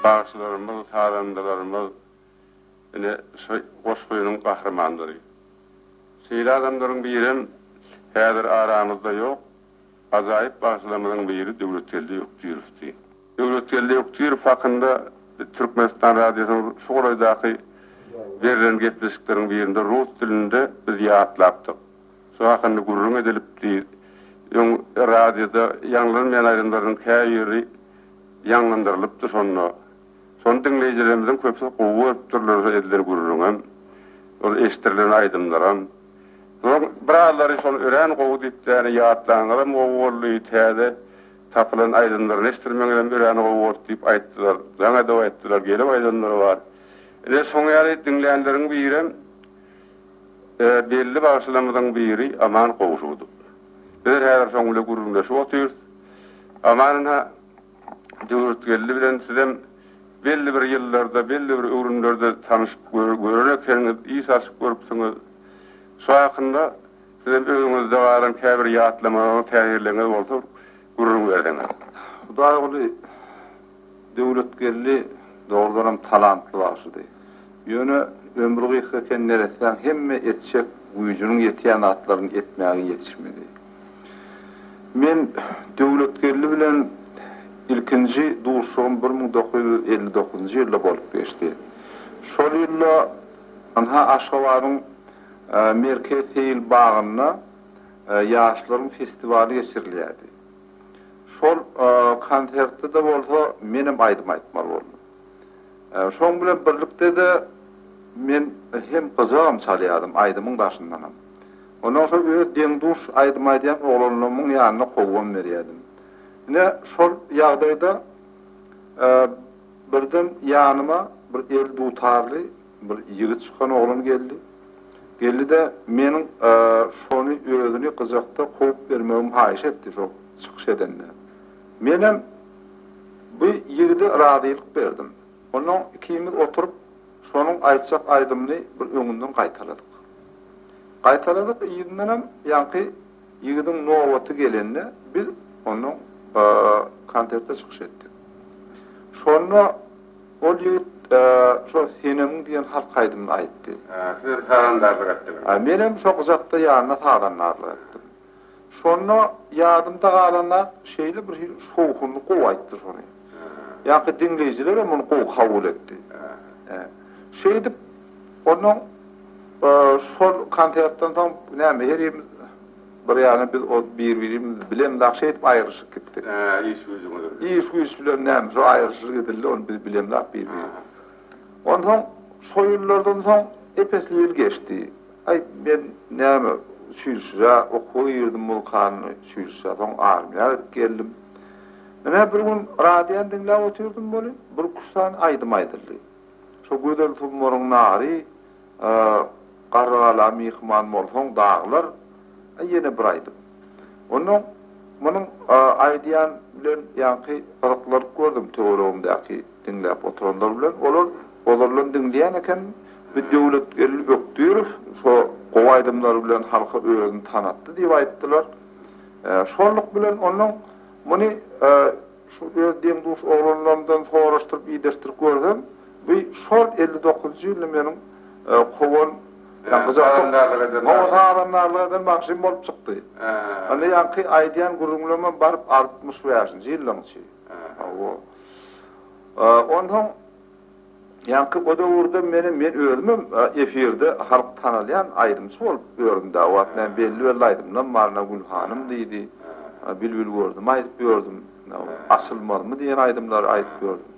Bagşylarymyz, sazandalarymyz ine şu goşgynyň gahrymanlary. Şeýle adamlaryň birem häzir aramyzda ýok. Ajaýyp bagşylarymyzyň biri Döwletgeldi Ökdürowdy. Döwletgeldi Ökdürow hakynda Türkmenistan Radiosynyň şu golaýdaky berlen gepleşikleriň birinde rus dilinde biz ýatlapdyk. Şu hakynda gürrüň edilipdi. Öň radioda ýaňlanmaýan aýdymlarynyň käbiri ýaňlandyrylypdy şonda. Şony diňleýjilerimiziň köpüsi gowy görüpdirler şo edilen gürrüňem, ol eşdirilen aýdymlaram. Zor birazlary şony örän gowy diýipdi ýani ýatlanyňyzam gowy boldy, täze tapylan aýdymlaryny eşdirmeňizem örän gowy boldy diýip aýtdylar. Jaň edip aýtdylar, gelip aýdanlar bar. Ine şoň ýaly diňlänleriň birem belli bagşylarymyzyň biri Aman Gowşudow. Biz häzir şoň bilen gürrüňleşip otyrys. Aman ynha, Döwletgeldi bilen sizem belli bir ýyllarda, belli bir öwrümlerde tanyşyp gören ekeniňiz, iý saçyp görüpsiňiz. Şu hakynda sizem özüňizde galan käbir ýatlamalaryňyzy täzirlegiňiz bolsa bir gürrüň berseňiz. Hudaýguly. Döwletgeldi dogrudanam talantly bagşydy. Ýöne ömri gysga eken neressäň hemme etjek güýjüniň ýetýän zatlaryny etmäge ýetişmedi. Men Döwletgeldi bilen ilkinji duşuşygym bir müň dokuz ýüz elli dokuzynjy ýylda bolup geçdi. Şol ýylda ynha Aşgabadyň Merkez seýil bagynda ýaşlaryň festiwaly geçirilýärdi. Şol konsertde-de bolsa menem aýdym aýtmaly boldum. Şoň bilen birlikde-de men hem gyjagam çalýardym, aýdymyň daşyndanam. Onnoň şol öz deň-duş aýdym aýdýan oglanlarymyň ýanynda kowgam berýärdim. Ine, şol ýagdaýda birden ýanyma bir eldutarly Bir ýigit çykan oglan geldi. Geldi-de, meniň şony özüni gyjakda kowup bermegimi haýyş etdi şo çykyş edende. Menem bu ýigide razylyk berdim. Onnoň ikimiz oturyp, şonuň aýtjak aýdymyny bir öňünden gaýtaladyk. Gaýtaladyk, yzyndanam ýaňky ýigidiň nobaty gelende, biz onnoň konserte çykyş etdik. Şonda. Ol ýigit şo Senemiň diýen halk aýdymyny aýtdy. Sizem sazandarlyk etdiňizmi? Menem şo gyjakda ýanyna sazandarlyk etdim. Şonda ýadymda galan zat, şeýle bir şowhunly gowy aýtdy şony. Ýaňky diňleýjilerem muny gowy kabul etdi. Şeýdip, onnoň şol konsertden soň näme, herimiz. Bir ýany biz ol bir-birimiz bilen dagy şeýdip aýrylyşyp gitdik. Hä, iş-güýjüň bilen. Iş-güýç bilen näme, şo aýrylyşylyp edildi, ony biz bilemzok bir-birimiz. Onsoň şo ýyllardan soň ep-esli ýyl geçdi. Aý, men näme, uçilişije okuwa girdim, muzykanyň uçilişije, soň armiýa gidip geldim. Menä bir gün radiony diňläp otyrdym welin, bir küştdan aýdym aýdyldy. Şo gözel sumaryň nary Garrygala myhman bolsaň daglar Ýene bir aýdym. Onnoň munuň aýdýan bilen ýaňky gyzyklanyp gördüm töweregimdäki diňläp oturanlar bilen. Olar ozaldan diňleýän eken. Bir Döwletgeldi Bökdürow şo gowy aýdymlary bilen halka özüni tanatdy diýip aýtdylar. Şonluk bilen onnoň muny Şu öz deň-duş oglanlarymdan soraşdyryp ideshdirip görsem, bu şol elli dokuzynjy ýylda meniň kowan, ýa gyjakdok-sazandarlyk eden bagşym. Hawa, sazandarlyk eden bagşym bolup çykdy. Indi ýaňky aýdýan gürrüňlemem baryp altmyş bäşinji ýyllaň içi. Hawa. Onsoň. Ýaňky o döwürde menem men özümem efirde halk tanalýan aýdymçy bolup ýördüm da o wagt men belli belli aýdymlarym bar ynha Gülhanym diýdi Bilbil gördüm aýdyp ýördüm Açylmazmy diýen aýdymlary aýdyp ýördüm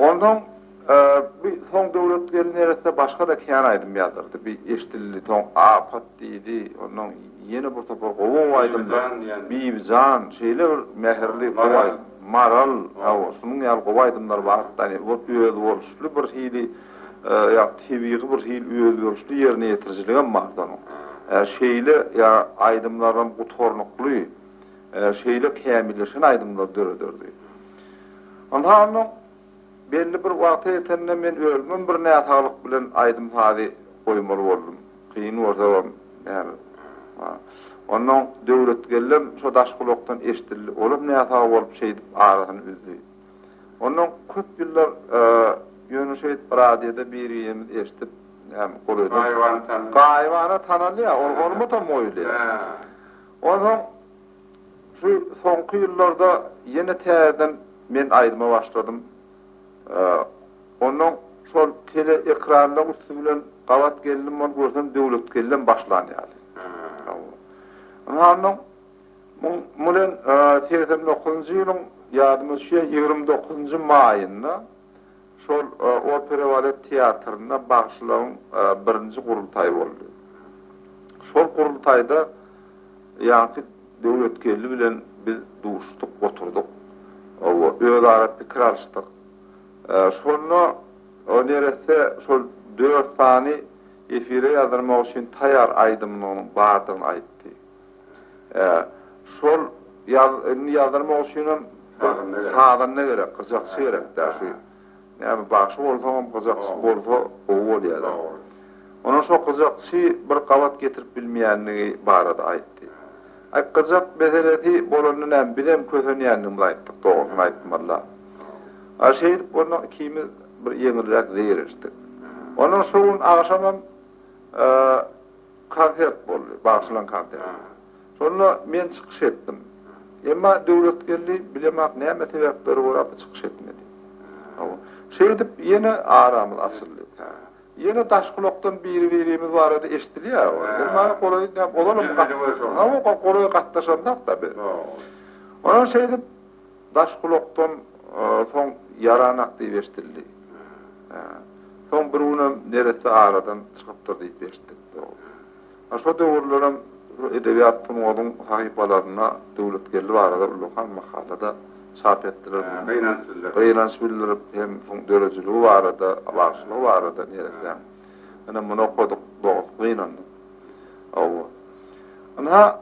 onsoň bu soň Döwletgeldi neresse başga da kän aýdym ýazdyrdy bir eşdildi soň Apat diýdi onnoň. Ýene bir topar gowy aýdymlar Bibijan şeýle bir mähirli gowy aýdym Maral hawa şunuň ýaly gowy aýdymlar bar da özboluşly bir hili ýa tebigy bir hil özboluşly ýerine ýetirijiligem bar da onuň şeýle ýa aýdymlaram gutarnykly şeýle kämilleşen aýdymlar dörederdi. Ynha onda Belli bir wagta ýetende men özümem bir näsaglyk bilen aýdym-sazy goýmaly boldum. Kyn bolsabam, näme. Onnoň Döwletgellem şo daş gulakdan eşdildi. Olam näsag bolup şeýdip arasyny üzdi. Onnoň köp ýyllar ýöne şeýdip radioda bir-birimizi eşdip, näme, golaýda. Gaýybany tanaly. Gaýybany tanalýa, ol hormatam goýulýa. Onsoň. Şu soňky ýyllarda ýene täzeden men aýdyma başladym. Onnoň şol tele ekranlaň üsti bilen gabat geldim bolup görsem Döwletkellem başlan ýaly. Ynha onnoň muň bilen segsen dokuzynjy ýylyň ýadyma düşýär ýigrimi dokuzynjy maýynda Şol opera balet teatrynda bagşylaryň birinji gurultaýy boldy. Şol gurultaýda ýaňky Döwletgeldi bilen biz duşduk, oturdyk. Özara pikir alyşdyk. Şonda o neresse şol dört sany efire ýazdyrmak üçin taýýar aýdymynyň bardygyny aýtdy. Ä, şol ýaz, indi ýazdyrmak üçinem sazanda gerek, gyjakçy gerek-dä, şu näme, bagşy bolsaňam gyjakçy bolsa gowy bolýar-a. Onam şo gyjakçy bir gabat getirip bilmeýändigi barada aýtdy. Aý, gyjak meselesi bolanda näme, bizem kösenýändigimizi aýtdyk, dogrusyny aýtmaly-a. A şeýdip ondan ikimiz bir ýeňilräk zeýreşdik. Ondan şo gün agşamam, konsert boldy, bagyşlan konsert. Şonda men çykyş etdim. Emma Döwletgeldi bilemok näme sebäpleri görapmy çykyş etmedi. Şeýdip ýene aramyz açyldy. Ýene daş gulakdan biri-birimiz barada eşidilýär. Ol maňa golaý näme, ozal hem, hawa, golaý gatnaşandak-da biz. Onsoň şeýdip Daş gulakdan soň ýaranak diýip eşidildi. Soň bir günem neresse aradan çykypdyr diýip eşitdik. Ýa şo döwürlerem şu edebiýat sungatyň sahypalarynda Döwletgeldi barada ullakan makala-da çap etdiler. Gynanç bildirip. Gynanç bildirip hem şuň döredijiligi barada, bagşylygy barada neressäň. Ine muny okadyk, dogusy gynandyk. Hawa. Ynha.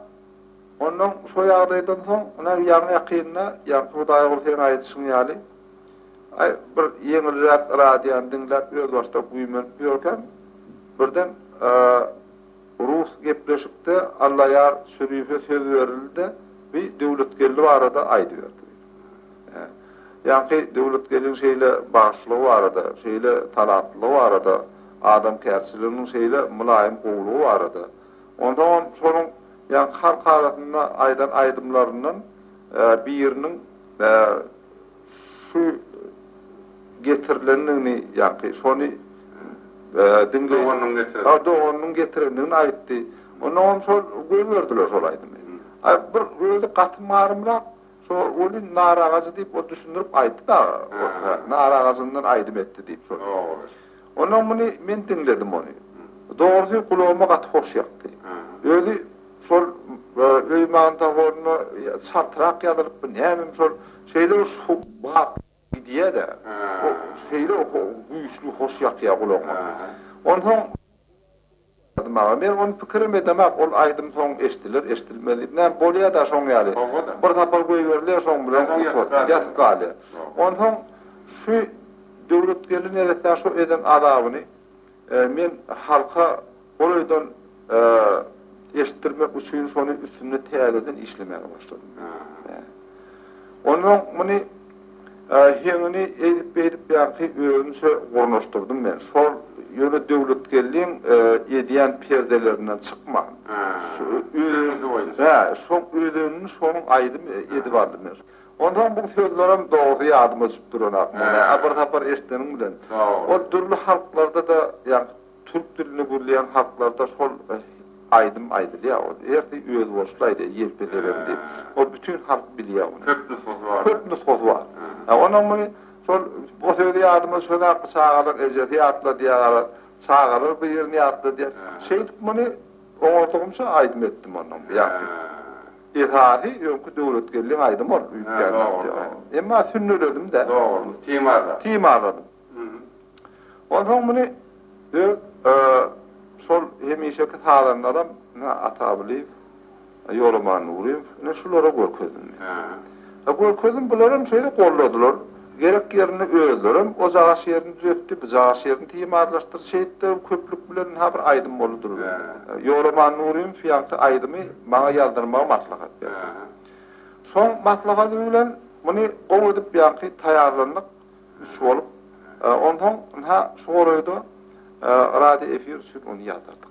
Onnoň şo ýagdaýdan soň, ine, ýaňy ýakynda, ýaňky Hudaýgul seň aýdyşyň ýaly, aý, bir ýeňilräk radiony diňläp özbaşdak güýmenip ýörkäm, birden rus gepleşikde Allaýar Şürife söz berildi-de, bi Döwletgeldi barada aýdyberdi. Ýaňky Döwletgeldiň şeýle bagşylygy barada, şeýle talantlylygy barada, adamkärçiliginiň şeýle mylaýym gowulygy barada, Onsoňam şonuň ýaňky halk arasynda aýdan aýdymlaryndan biriniň şu getirilendigini, ýaňky şony diňleýin. Doganynyň getiren. A, doganynyň getirendigini aýtdy. Onsoňam şol goýberdiler şol aýdymy. A, bir özi gaty marymrak, şo welin naragajy diýip ol düşündirip aýtdy dagy. Naragajyndan aýdym etdi diýip şol. Ondan muny men diňledim ony. Dogrusy gulagyma gaty hoş ýakdy. Özi şol öý magnitofonuna çaltrak ýazylypmy, nämemi şol, şeýle bir şu bap gidýä-de, şeýle güýçli hoş ýakýa gulagyňa. Onsoň. Gyz maňa, Men ony pikirem edemok, ol aýdym soň eşdiler, eşdilmez diýip, näme, bolýa-da şoň ýaly. Bir sapar goýberilýär, şoň bilen otur, ýatyp galýar. Onsoň şu Döwletgeldi neressäň şo eden azabyny men halka golaýdan eşitdirmek üçin şony üstünde täzeden işlemäge başladym. Onsoň muny. Heňini eýdip-beýdip ýagty özümçe gurnaşdyrdym men. Şol ýöne Döwletgeldiň edýän perdelerinden çykman. Şu özeniňki boýunça. Hä, şoň özenini şonuň aýdym edip aldym men. Onsoň bu sözlerem dogrusy ýadyma düşüp duranok. Muny bir sapar eşidenim bilen. Ol dürli halklarda-da ýa. Türk dilini gürleýän halklarda şol aýdym aýdylýar. Ol ertir özboluşly aýdýar, Ýelpe Lebem diýip. Ol bütin halk bilýär ony. Köp nusgasy bar. Köp nusgasy bar. Ýa onuň muny şol o sözi ýadyma düşenokmy, çagalar ejesi ýatladýar, çagalar bir ýerini ýatladýar. Şeýdip muny oňardygymça aýdym etdim onuň bu ýagty. Esasy öňki Döwletgeldiň aýdymy ol öýtgändigi. Emma sünneledim-de. Dogurymy? Timarladym. Timarladym. Onsoň muny öz şol hemişeki sazandaram ine Atagulyýew, Ýolaman Nuryýew, ine şulara görkezdim men. Görkezdim, bularam şeýle golladylar. Gerek ýerinde özlerem o cagyş ýerini düzetdi, bu cagyş ýerini timarlaşdyrdy. Şeýtde köplük bilen ynha bir aýdym boldy durup. Ýolaman Nuryýew ýaňky aýdymy maňa ýazdyrmagy maslahat berdi. Şoň maslahaty bilen muny gowy edip ýaňky taýýarlandyk. Üç bolup, onsoň ynha, şu gorada radio efir üçin ony ýazdyrdyk.